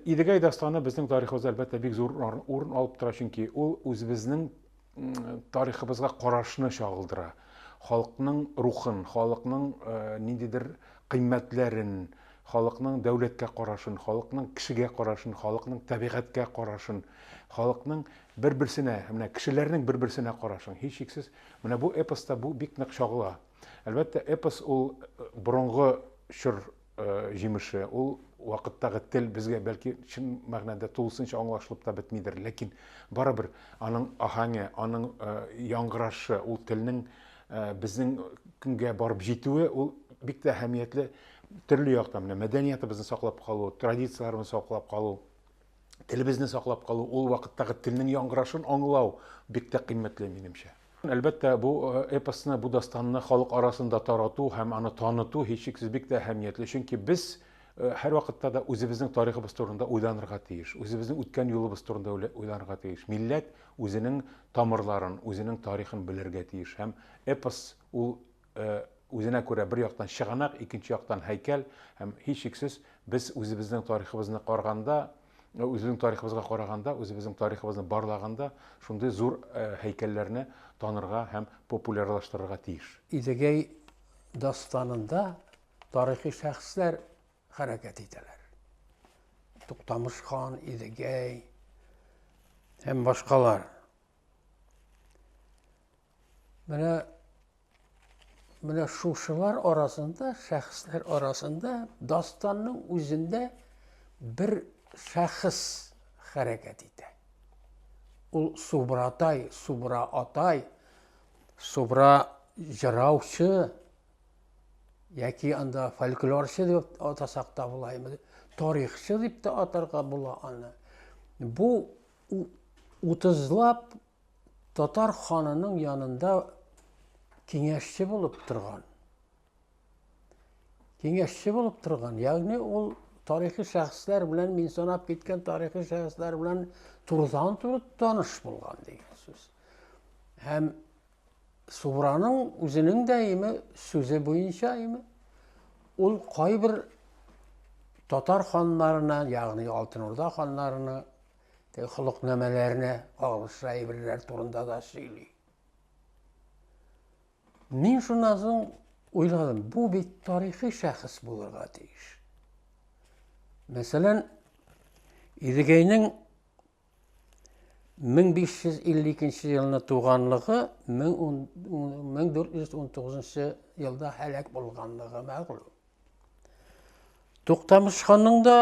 Идегәй дастаны безнең тарихыбызда, әлбәттә, бик зур урын алып тора, чөнки ул үзебезнең тарихыбызга карашны чагылдыра. Халыкның рухын, халыкның э, ниндидер кыйммәтләрен, халыкның дәүләткә карашын, халыкның кешегә карашын, халыкның табигатькә карашын, халыкның бер-берсенә, менә кешеләрнең бер-берсенә карашын. Һичшиксез, менә бу эпоста бу бик нык чагыла. Әлбәттә, эпос ул э, борынгы чор җимеше, ул вакыттагы тел безгә бәлки чын мәгънәдә тулысынча аңлашылып та бетмидер, ләкин барыбер аның аһәңе, аның яңгырашы, ул телнең безнең көнгә барып җитүе, ул бик тә әһәмиятле төрле яктан. Менә мәдәниятыбызны саклап калу, традицияләрне саклап калу, телебезне саклап калу, ул вакыттагы телнең яңгырашын аңлау бик тә кыйммәтле минемчә. Әлбәттә, бу эпосны, бу дастанны халык арасында тарату һәм аны таныту һичшиксез бик тә әһәмиятле, чөнки без һәрвакытта да үзебезнең тарихыбыз турында уйланырга тиеш, үзебезнең үткән юлыбыз турында уйланырга тиеш. Милләт үзенең тамырларын, үзенең тарихын белергә тиеш һәм эпос ул үзенә күрә бер яктан чыганак, икенче яктан һәйкәл һәм һичшиксез без үзебезнең тарихыбызны карганда, үзебезнең тарихыбызга караганда, үзебезнең тарихыбызны барлаганда шундый зур һәйкәлләрне танырга һәм популярлаштырырга тиеш. Идегәй дастанында тарихи шәхесләр хәрәкәт итәләр. Туктамыш хан, Идегәй һәм башкалар. Менә менә шушылар арасында, шәхесләр арасында дастанның үзендә бер шәхес хәрәкәт итә. Ул Субратай, Субра атай, Субра җыраучы яки анда фольклорчы дип атасак та булаймы, тарихчы дип тә атарга була аны. Бу утызлап Татар ханының янында киңәшче булып торган. Киңәшче булып торган. Ягъни ул тарихи шәхесләр белән мин санап киткән тарихи шәхесләр белән турыдан туры таныш булган дигән сүз. Һәм Субраның үзенең дә име сүзе буенча име ул кайбер татар ханнарына, ягъни Алтын Урда ханнарына Теге холыкнамәләренә кагылышлы әйберләр турында да сөйли. Мин шуннан соң уйладым, бу бит тарихи шәхес булырга тиеш. Мәсәлән, Идегәйнең 1552 елны туганлыгы 1419 елда һәлак булганлыгы мәгълүм. Туктамышханның да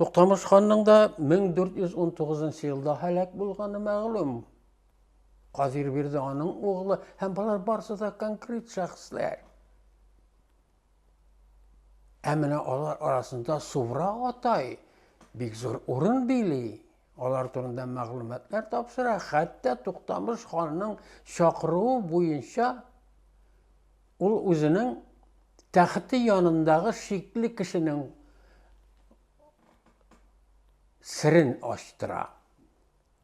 Туктамыш ханның да 1419 елда һәлак булганы мәгълүм. Казир бирде аның углы һәм болар барсы да конкрет шәхесләр. Ә менә алар арасында Сувра атай бик зур урын били. Алар турында мәгълүматлар тапшыра, хәтта Туктамыш ханның чакыруы буенча ул үзенең тәхете янындагы шикле кешенең серен ачтыра.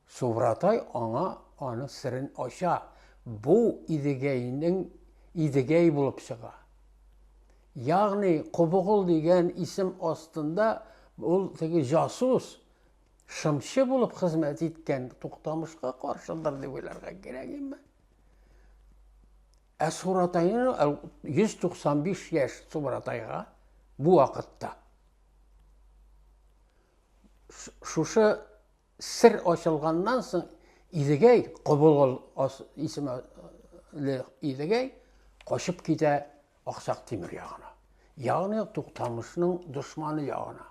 Субратай аңа аны серен ача. Бу Идегәйнең Идегәй булып чыга. Ягъни Кубыгыл дигән исем астында ул теге жасус шымчы булып хезмәт иткән Туктамышка каршыдыр дип уйларга кирәк инде. Ә Суратайны 195 яшь Суратайга бу вакытта шушы сер ачылганнан соң Идегәй Кобылгыл исемле Идегәй качып китә Аксак Тимер ягына. Ягъни Туктамышның дошманы ягына.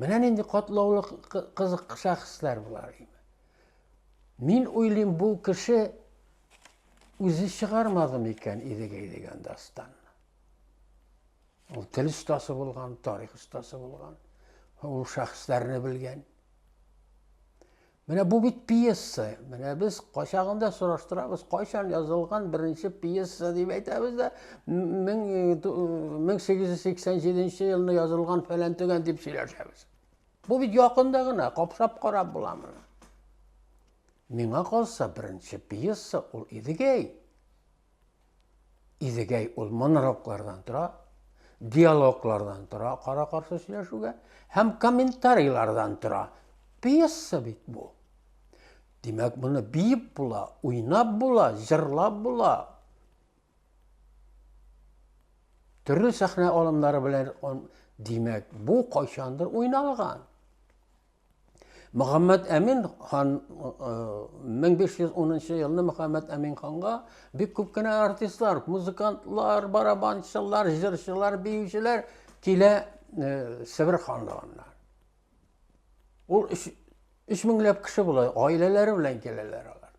Менә нинди катлаулы кызык шәхесләр болар. Мин уйлыйм, бу кеше үзе чыгармадым икән Идегәй дигән дастанны. Ул тел остасы булган, тарих остасы булган, ул шәхесләрне белгән. Менә бу бит пьеса. Менә без качагында сораштырабыз, кайчан язылган беренче пьеса дип әйтәбез дә, 1887 елны язылган фәлән төгән дип сөйләшәбез. Бу бит якында гына, капшап карап була моны. Миңа калса, беренче пьеса ул Идегәй. Идегәй ул монологлардан тора, диалоглардан тора, кара-каршы сөйләшүгә һәм комментарийлардан тора. Пьеса бит бу. Димәк, моны биеп була, уйнап була, җырлап була. Төрле сәхнә алымнары белән, димәк, бу кайчандыр уйналган. Мөхәммәд Әмин хан 1510 елны Мөхәммәд Әмин ханга бик күп кенә артистлар, музыкантлар, барабанчылар, җырчылар, биючеләр килә Себер ханлыгыннан. Ул 3 меңләп кеше була, гаиләләре белән киләләр алар.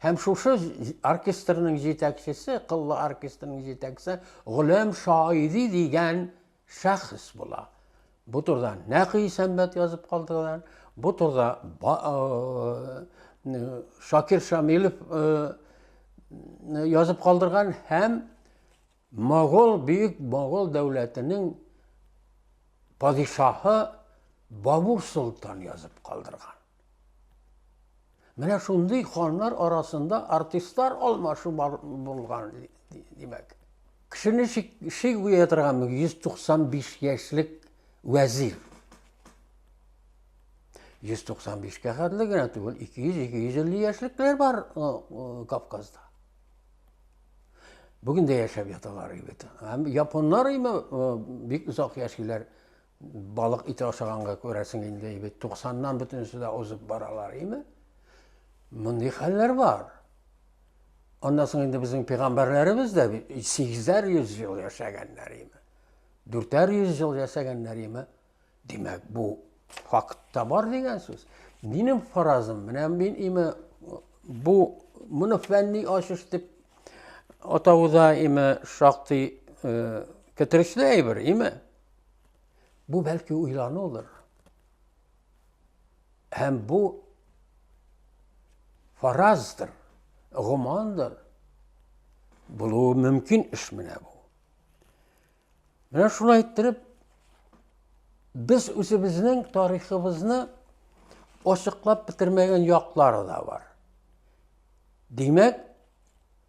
Һәм шушы оркестрның җитәкчесе, Кыллы оркестрның җитәкчесе Гөләм Шаиди дигән Шәхес була. Бу турыда нәкъ Исәнбәт язып калдырган, бу турыда Шакир Шамилов язып калдырган һәм Могол бөек Могол дәүләтенең падишаһы Бабур Солтан язып калдырган. Менә шундый ханнар арасында артистлар алмашу булган димәк. Кешене ши куя торган 195 яшьлек вәзир. 195-кә хәтле генә түгел, 200-250 яшьлекләр бар Кавказда. Бүген дә яшәп яталар бит. Һәм японнар име бик озак яшиләр. Балык ите ашаганга күрәсең инде, бит 90-нан бөтенесе дә узып баралар, име? Мондый хәлләр бар. Аннан соң инде безнең пигамбәрләребез дә 800 ел яшәгәннәр име? 400 ел яшәгәннәр име? Димәк, бу фактта бар дигән сүз. Минем фаразым, менә мин име бу моны фәнни ачыш дип атауда име шактый э, китерешле әйбер, име? Бу бәлки уйланулыр. Һәм бу фараздыр, гомандыр. Булуы мөмкин эш менә бу. Менә шулай иттереп без үзебезнең тарихыбызны ачыклап бетермәгән яклары да бар. Димәк,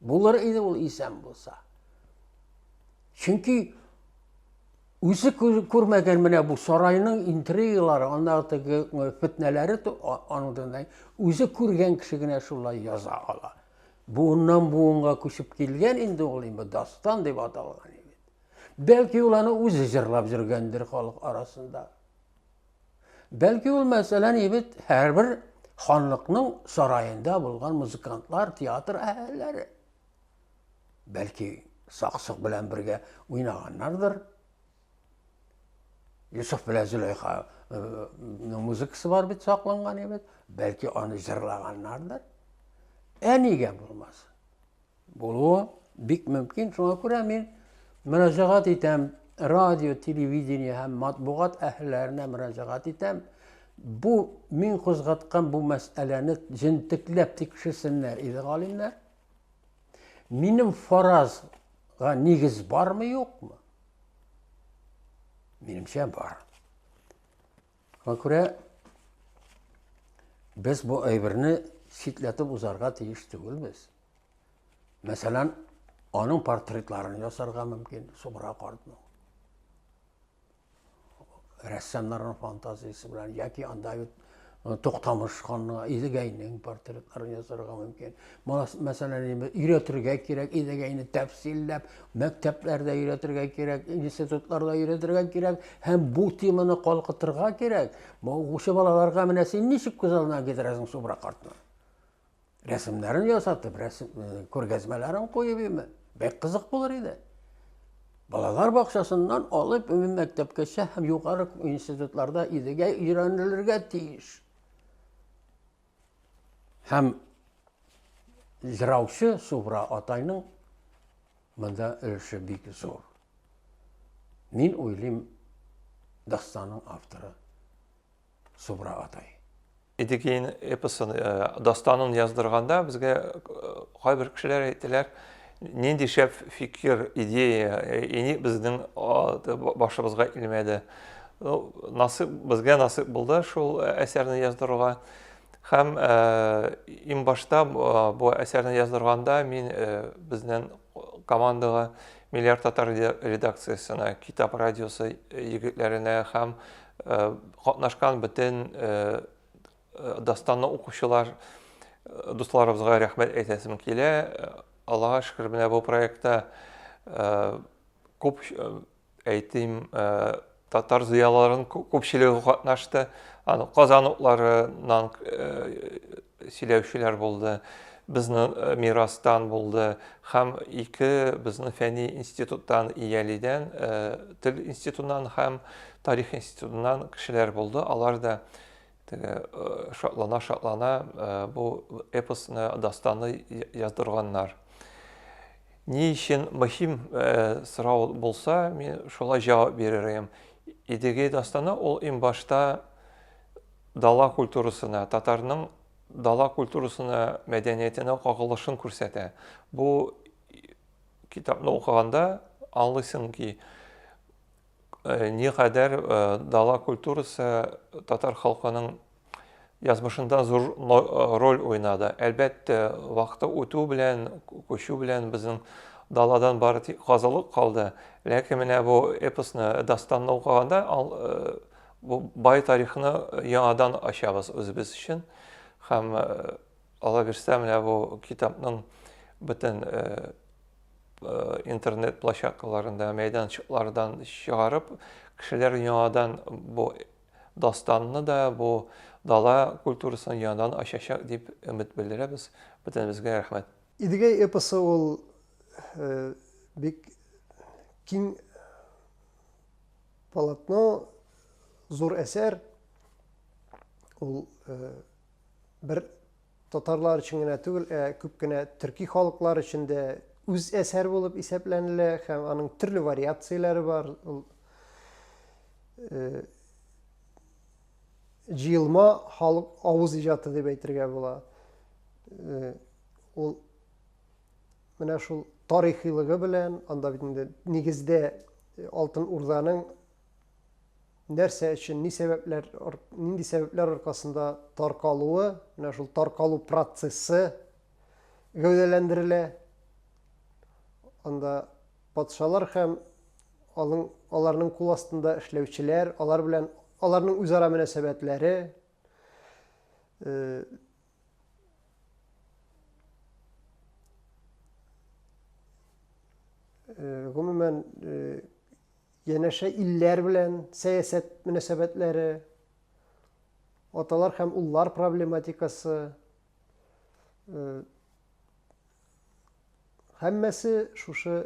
Булыр иде ул исән булса. Чөнки үзе күрмәгән менә бу сарайның интригалары, андагы теге фетнәләре аныңдай үзе күргән кеше генә шулай яза ала. Буыннан буынга күчеп килгән инде ул инде дастан дип аталган. Бәлки ул аны үзе җырлап йөргәндер халык арасында. Бәлки ул мәсәлән ибет һәрбер ханлыкның сараенда булган музыкантлар, театр әһелләре. Бәлки саксык белән бергә уйнаганнардыр. Юсуф белән Зөләйха э, музыкасы бар бит сакланган ибет. Бәлки аны җырлаганнардыр. Ә нигә булмасын? Булуы бик мөмкин, шуңа күрә мин мөрәҗәгать итәм, радио, телевидение һәм матбугат әһелләренә мөрәҗәгать итәм. Бу мин кузгаткан бу мәсьәләне җентекләп тикшерсеннәр иде галимнәр. Минем фаразга нигез бармы, юкмы? Минемчә бар. Шуңа күрә без бу әйберне читләтеп узарга тиеш түгелбез. Мәсәлән, аның портретларын ясарга мөмкин, Субра картның. Рәссамнарның фантазиясе белән яки анда бит Токтамыш ханның, Идегәйнең портретларын ясарга мөмкин. Малас мәсәлән инде өйрәтергә кирәк, идегә инде тәфсилләп, мәктәпләрдә өйрәтергә кирәк, институтларда өйрәтергә кирәк һәм бу теманы калкытырга кирәк. Бу укучы балаларга менә син ничек күз алдына китерәсең Субра картны? Рәсемнәрен ясатып, рәсем э, күргәзмәләрен куеп име? Бәк кызык булыр иде. Балалар бакчасыннан алып үми мәктәпкәчә һәм югары институтларда идегә өйрәнелергә тиеш. Һәм җыраучы Субра атайның монда өлеше бик зур. Мин уйлыйм, дастанның авторы Субра атай. Идегейн эпосын, э, дастанын яздырганда безгә э, кайбер кешеләр әйтәләр, Нинди шәп фикер, идея, и ник безнең башыбызга килмәде? Насыйп, безгә насыйп булды шул әсәрне яздыруга. Һәм иң башта бу әсәрне яздырганда мин безнең командага Миллиар татар редакциясенә, Китап радиосы егетләренә һәм катнашкан бөтен Дастанны укучылар дусларыбызга рәхмәт әйтәсем килә. Аллага шөкер, менә бу проектта күп әйтим татар зыялыларын күпчелеге катнашты. Аны Казан утларыннан сөйләүчеләр булды. Безнең мирастан булды һәм ике безнең фәнни институттан Иялидән, тел институтыннан һәм тарих институтыннан кешеләр булды. Алар да Теге шатлана-шатлана бу эпосны, дастаны яздырганнар. Ни өчен мөһим сорау булса, мин шулай җавап биререм. Идеге дастаны ул иң башта дала культурасына, татарның дала культурасына, мәдәниятенә кагылышын күрсәтә. Бу китапны укыганда аңлыйсың ки, никадәр дала культурасы татар халкының язмышында зур роль уйнады. Әлбәттә, вакыты үтү белән, күчү белән безнең даладан бары тик казылык калды. Ләкин менә бу эпосны, дастанны укыганда, бу бай тарихны яңадан ачабыз үзебез өчен. Һәм алла бирсә, менә бу китапның бөтен интернет площадкаларында мәйданчыклардан чыгарып кешеләр яңадан бу дастанны да бу дала культурасын яңадан ачачак дип өмет белдерәбез бөтенебезгә рәхмәт идегәй эпосы ул э, бик киң полотно зур әсәр ул э, бер Татарлар өчен генә түгел, ә күп кенә төрки халыклар өчен дә үз әсәр булып исәпләнелә һәм аның төрле вариацияләре бар. Ул җыелма халык авыз иҗаты дип әйтергә була. Ул менә шул тарихилыгы белән, анда бит инде нигездә Алтын Урданың нәрсә өчен, ни сәбәпләр, нинди сәбәпләр аркасында таркалуы, менә шул таркалу процессы гәүдәләндерелә. Анда патшалар һәм алың, аларның кул астында эшләүчеләр, алар белән аларның үзара мөнәсәбәтләре, э, э, гомумән, э, Янәшә илләр белән сәясәт мөнәсәбәтләре, аталар һәм уллар проблематикасы, һәммәсе шушы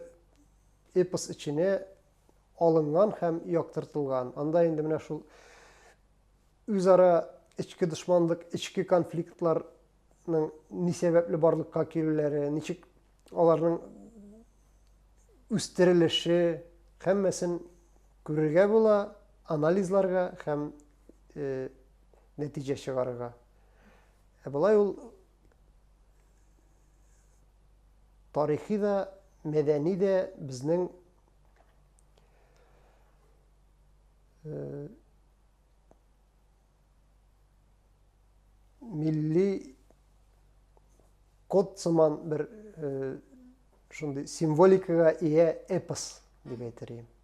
эпос эченә алынган һәм яктыртылган. Анда инде менә шул үзара эчке дошманлык, эчке конфликтларның ни сәбәпле барлыкка килүләре, ничек Аларның үстерелеше һәммәсен күрергә була, анализларга һәм э, нәтиҗә чыгарырга. Ә болай ул тарихи да, мәдәни дә безнең э, милли код сыман бер э, шундый символикага ия эпос дип әйтер идем